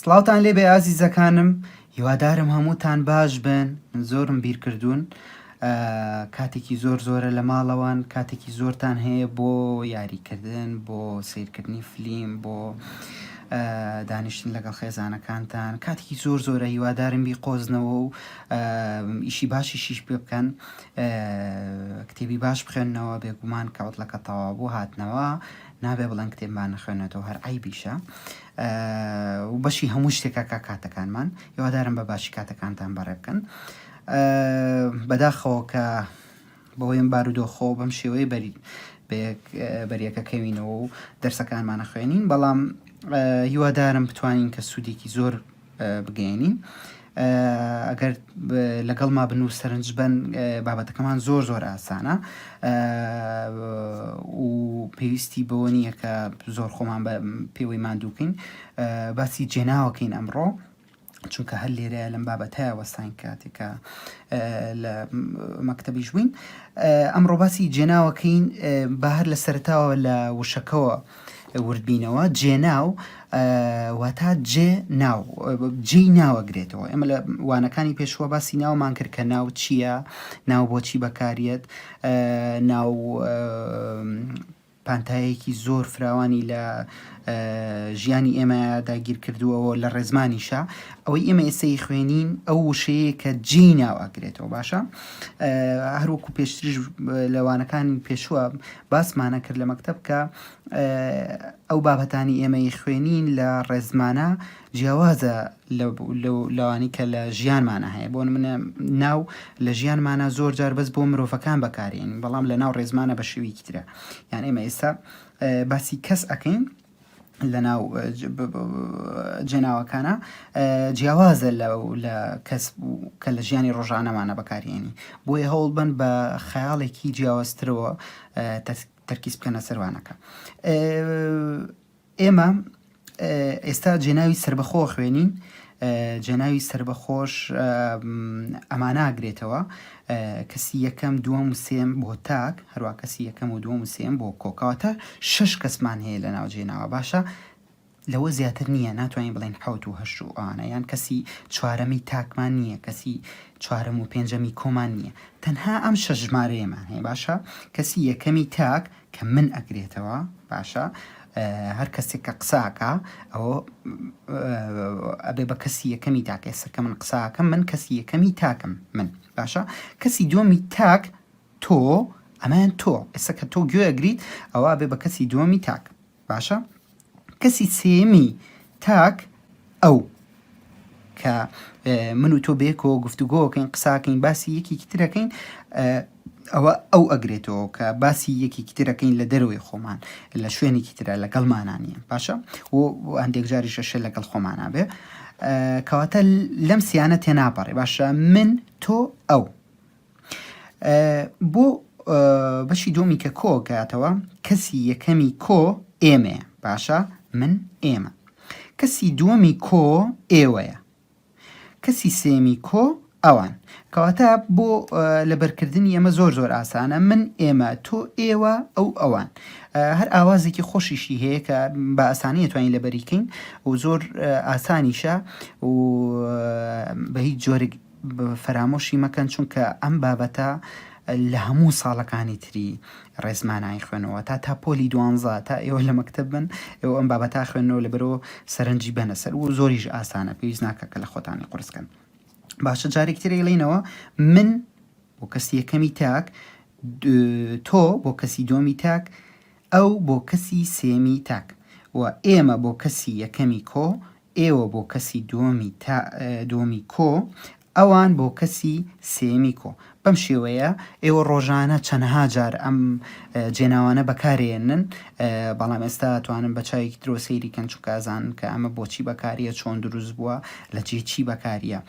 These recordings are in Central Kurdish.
سڵاوتان لێ بێ ئازیزەکانم هیوادارم هەمووتان باش بن من زۆرم بیرکردوون کاتێکی زۆر زۆرە لە ماڵەوان کاتێکی زۆرتان هەیە بۆ یاریکردن بۆ سیرکردنی فلیم بۆ دانیشتن لەگەڵ خێزانەکانتان کاتێکی زۆر زۆرە هیوادارم بی قۆزنەوە و ئیشی باشی شیش پێ بکەن کتێبی باش بخوێننەوە بێگومان کە عوتلەکە تەواو بوو هاتنەوە نابێ بڵێن کتێب با نەخوێنێتەوە هەر عیبیشە و بەشی هەموو شتێکە کا کاتەکانمان هیوادارم بە باشی کاتەکانتان بەڕێ بکەن بەداخەوە کە بەوەیم بارودۆخۆ بەم شێوەیە بەری بەریەکە کەوینەوە و دەرسەکانمانە خوێنین بەڵام هیوادارم بتوانین کە سوودێکی زۆر بگەیەنین ئەگەر لەگەڵما بن و سەرنج بن بابەتەکەمان زۆر زۆر ئاسانە و پێویستی بەوە نییە کە زۆر خۆمان بە پێوەی مادووکەین باسی جێناوەکەین ئەمڕۆ چونکە هەر لێرەیە لەم بابەتە وەستان کاتێکە لە مەکتتەبیش بووین ئەمڕۆ باسی جێناوەکەین بە هەر لە سەرتاوە لە وشەکەەوە وردبینەوە، جێناو واتا جێ ناو جێی ناوەگرێتەوە ئێمە لە وانەکانی پێشوە باسی ناومان کرد کە ناو چییە ناو بۆچی بەکاریت ناو پانتایەکی زۆر فراوانی لە ژیانی ئێمە داگیر کردووەوە لە ڕێزمانیشە ئەوەی ئێمە ئێسەی خوێنین ئەو وشەیە کە جی ناواگرێتەوە باشە هەروەکو پێشتریش لەوانەکانی پێشوە باسمانە کرد لە مەکتەب کە ئەو بابەتانی ئێمەی خوێنین لە ڕێزمانە جیاوازە لەوانی کە لە ژیانمانە هەیە بۆ منە ناو لە ژیانمانە زۆر جار بەس بۆ مرۆڤەکان بەکارین بەڵام لە ناو ڕێزمانە بە شویکترە یان ئێمە ئێستا باسی کەس ئەەکەین لەناو جێناوەکانە جیاوازە لەو لە کەس کە لە ژیانی ڕۆژانەمانە بەکارهێنی بۆیە هەوڵ بن بە خەیاڵێکی جیاوازترەوە تەرکیز بکەنە سەروانەکە ئێمە ئێستا جێناوی سربەخۆ خوێنین جەنابی سەربەخۆش ئەمانە ئەگرێتەوە، کەسی یەکەم، دووەم و سێیەم بۆ تاک، هەروا کەسی یەکەم و دووەم و سێیەم بۆ کۆ، کەواتە شەش کەسمان هەیە لە ناوجەی ناوە، باشە لەوە زیاتر نییە، ناتوانین بڵێین حەوت و هەشت و ئەوانە، یان کەسی چوارەمی تاکمان نییە، کەسی چوارەم و پێنجەمی کۆمان نییە، تەنها ئەم شەش ژمارەیەمان هەیە، باشە کەسی یەکەمی تاک کە من ئەگرێتەوە باشە هەر کەسێک کە قساکە ئەوە ئەبێ بە کەسی یەکەمی تاکە ئێستا کە من قساکەم من کەسی یەکەمی تاکم من باشە کەسی دومی تاک تۆ ئەمەیان تۆ ئێستا کە تۆ گوێگریت ئەوە بێ بە کەسی دومی تاک باشە کەسی سێیەمی تاک ئەو کە من و تۆ بێکەوە گفتوگۆکەین قساکەین باسی یەکێکی ترەکەین ئەوە ئەو ئەگرێتەوە کە باسی یەکێکی ترەکەین لە دەروی خۆمان لە شوێنێکی ترە لەگەڵ مانانیە باشە و هەندێک جاری شەشە لەگەڵ خۆمانە بێ کەواتە لەم سیانە تێناپەڕێ باشە من تۆ ئەو بۆ بەشی دووەمی کە کۆ گاتەوە کەسی یەکەمی کۆ ئێمەیە باشە من ئێمە کەسی دووەمی کۆ ئێوەیە کەسی سێمی کۆ ئەوان کەواتە بۆ لەبەرکردنی ئەمە زۆر زۆر ئاسانە من ئێمە تۆ ئێوە ئەو ئەوان هەر ئاوازێکی خۆشیشی هەیە کە بە ئاسانی توانین لەبەریکەین و زۆر ئاسانیشە و بە هیچ جۆرگ فەرامۆشی مەکەن چونکە ئەم بابەتە لە هەموو ساڵەکانی تری ڕێزمان ئایخوێنەوە تا تا پۆلی دوانزە تا ئێوە لە مەکتب بن ئێوە ئەم بابەتا خوێنەوە لە بەرەوە سەرنجی بەنە سەر و زۆریش ئاسانە پێویست ناکە کە لە خۆتانی قرسکەن باشە جارێک ترێ لینەوە من بۆ کەسی یەکەمی تاک تۆ بۆ کەسی دۆمی تاک ئەو بۆ کەسی سێمی تاک و ئێمە بۆ کەسی یەکەمی کۆ ئێوە بۆ کەسی دووەمی تا دووەمی کۆ ئەوان بۆ کەسی سێیەمی کۆ بەم شێوەیە ئێوە ڕۆژانە چەنەها جار ئەم جێناوانە بەکارێنن بەڵام ئێستا توانن بە چاوێکی ترۆ سەیری کەن چکازان کە ئەمە بۆچی بەکاریە چۆن دروست بووە لە جێ چی بەکاریە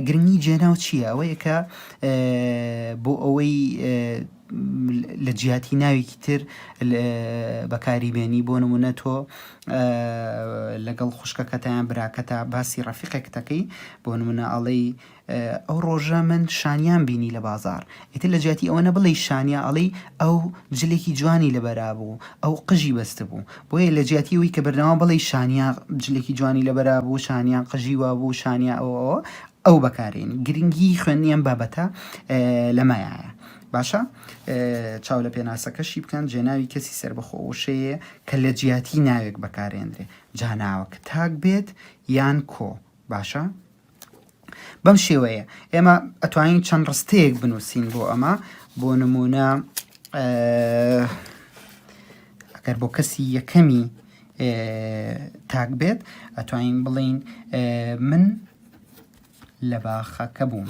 گرنگی جێناو چییە ئەوەیە کە بۆ ئەوەی لە جیاتی ناوێکی تر بەکاری بێنی بۆ نمونە تۆ لەگەڵ خوشکەکەتا یان براکەتا باسی ڕەفیقێکتەکەی بۆ نمونە ئەڵێی ئەو ڕۆژە من شانیان بینی لە بازار ئیتر لە جیاتی ئەوە نەبڵی شانیا ئەڵێی ئەو جلێکی جوانی لەبەرا بوو ئەو قژی بەستە بوو بۆیە لە جیاتی ئەوی کە بەردەوام بڵی شانیا جلێکی جوانی لەبەرا بوو شانیان قژی وا بوو شانیا ئەو ئەو بەکارێن گرنگی خوێندنیان بابەتە لەمایە باشە چاو لە پێناسەکەشی بکەن، جێناوی کەسی سەربەخۆ وشەیێ کە لە جیاتی ناوێک بەکارێندرێ، جا ناوەکە تاک بێت یان کۆ، باشە؟ بەم شێوەیە ئێمە ئەتوانین چەند ڕستەیەک بنووسین بۆ ئەمە بۆ نمونە ئەگەر بۆ کەسی یەکەمی تاک بێت ئەتوانین بڵین من لە باخەکە بووم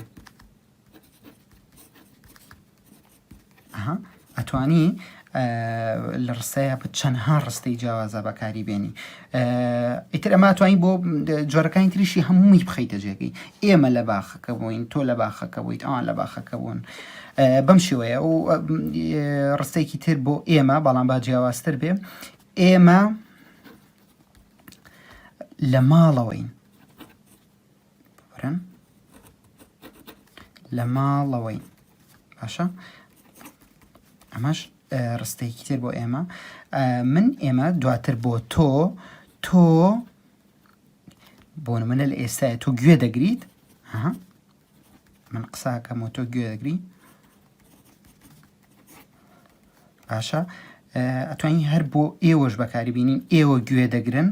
ئەتوانی لە ڕستەیە بە چەندها ڕستەی جیاوازە بەکاری بێنی ئیتر ئەما توانی بۆ جۆرەکانی تریشی هەمووی بخیتە جێگەی ئێمە لە باخەکە بووین تۆ لە باخەکە بوویت ئەوان لە باخەکە بوون بەم شێوەیە و ڕستێکی تر بۆ ئێمە بەڵام با جیاوازتر بێ ئێمە لە ماڵەوەین ببرن لە ماڵەوەین باشە ئەمەش ڕستەیەکی تر بۆ ئێمە من ئێمە دواتر بۆ تۆ تۆ بۆ منە لە ئێستای تۆ گوێ دەگریت من قساکەم و تۆ گوێ دەگری باشە ئەتوانی هەر بۆ ئێوەش بەکاری بینین ئێوە گوێ دەگرن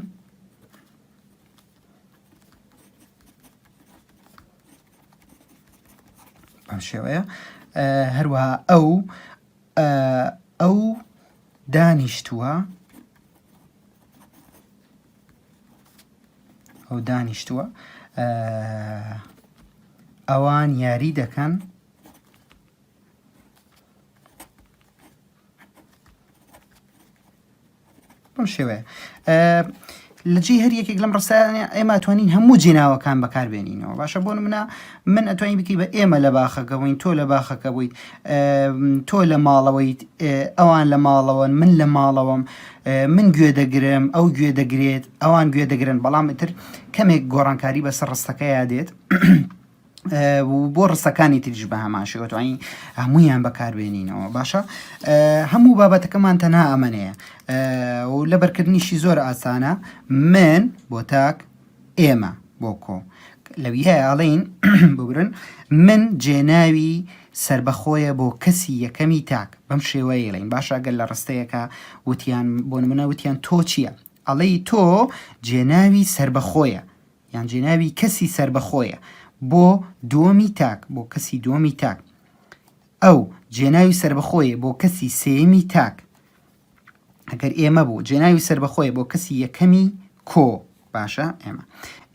بەم شێوەیە هەروەها ئەو ئەو دانیشتووە ئەو دانیشتووە ئەوان یاری دەکەن بەم شێوەیە لە جێی هەر یەکێک لەم ڕستانە ئێمە توانین هەموو جێناوەکان بەکاربێنینەوە باشە بۆ منە من ئەتوانی بکی بە ئێمە لە باخەکە بووین تۆ لە باخەکە بوویت تۆ لە ماڵەوەیت ئەوان لە ماڵەوەن من لە ماڵەوەم من گوێ دەگرم ئەو گوێ دەگرێت ئەوان گوێ دەگرن بەڵام تر کەمێک گۆڕانکاری بەسەر ڕستەکەیان دێت و بۆ ڕستەکانی تریش بە هەمان شێوەتوانی هەمویان بەکاربێنینەوە باشە هەموو بابەتەکەمان تەنها ئەمەەیە و لە بەرکردنیشی زۆر ئاسانە من بۆ تاک ئێمە بۆ کۆ لەوی هەیە ئەڵین ببرن من جێناوی سربەخۆیە بۆ کەسی یەکەمی تاک بەم شێوەیە لەین باشە گەل لە ڕستەیەەکە وتیان بۆ منە وتیان تۆ چییە ئەڵی تۆ جێناوی سربەخۆیە یان جێناوی کەسی سەربەخۆیە بۆ دووەمی تاک بۆ کەسی دووەمی تاک ئەو جێناوی سەربەخۆیە بۆ کەسی سێمی تاک ئەگەر ئێمە بوو جێناوی سەربەخۆیە بۆ کەسی یەکەمی کۆ باشە ئێمە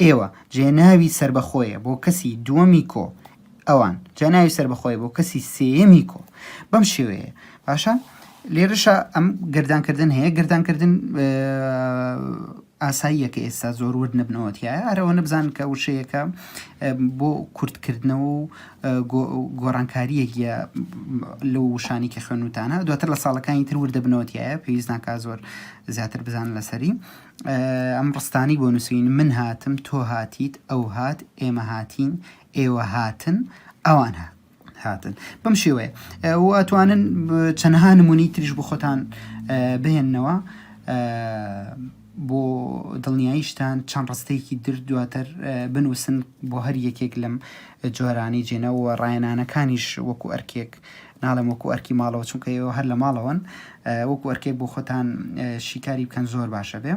ئێوە جێناوی سەربەخۆیە بۆ کەسی دووەمی کۆ ئەوان جێناوی سەربەخۆیە بۆ کەسی سێمی کۆ بەم شێوەیە باشە لێرەشە ئەم گردانکردن هەیە گردانکردن ئاساییە کە ئێستا زۆر ورد نەبنەوە تیایا، هەر ئەوەنە بزانن کە وشەیەکە بۆ کورتکردنەوە و گۆڕانکارییەک یە لەو وشانەی کە خوێنوتانە، دواتر لە ساڵەکانی تر ورد دەبنەوە تیایا، پێویست ناکا زۆر زیاتر بزانن لەسەری. ئەم ڕستانەی بۆ نووسین، من هاتم، تۆ هاتیت، ئەو هات، ئێمە هاتین، ئێوە هاتن، ئەوان هات. هاتن بەم شێوەیە واتوانن چەندها نمونی تریش بۆ خۆتان بهێننەوە بۆ دڵنیاییشتان چەند ڕستەیەکی در دواتر بنووسن بۆ هەر یەکێک لەم جۆرانی جێنەوە ڕایەنانەکانیش وەکو ئەرکێک ناڵێم وەکو ئەرکی ماڵەوە چونکە ئێوە هەر لە ماڵەوەن وەکو ئەرکێک بۆ خۆتان شیکاری بکەن زۆر باشە بێ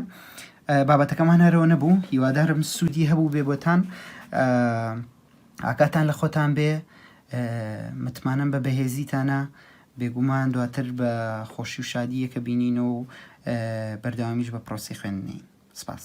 بابەتەکەمان هەرەوە نەبوو هیوادارم سوودی هەبوو بێ بۆتان. Uh... ئاگاتان لە خۆتان بێ متمانەم بە بەهێزیتانە بێگومان دواتر بە خۆشی و شادیەکە بینینەوە و بەردەوامیش بە پرۆسی خوێندنی سپاس.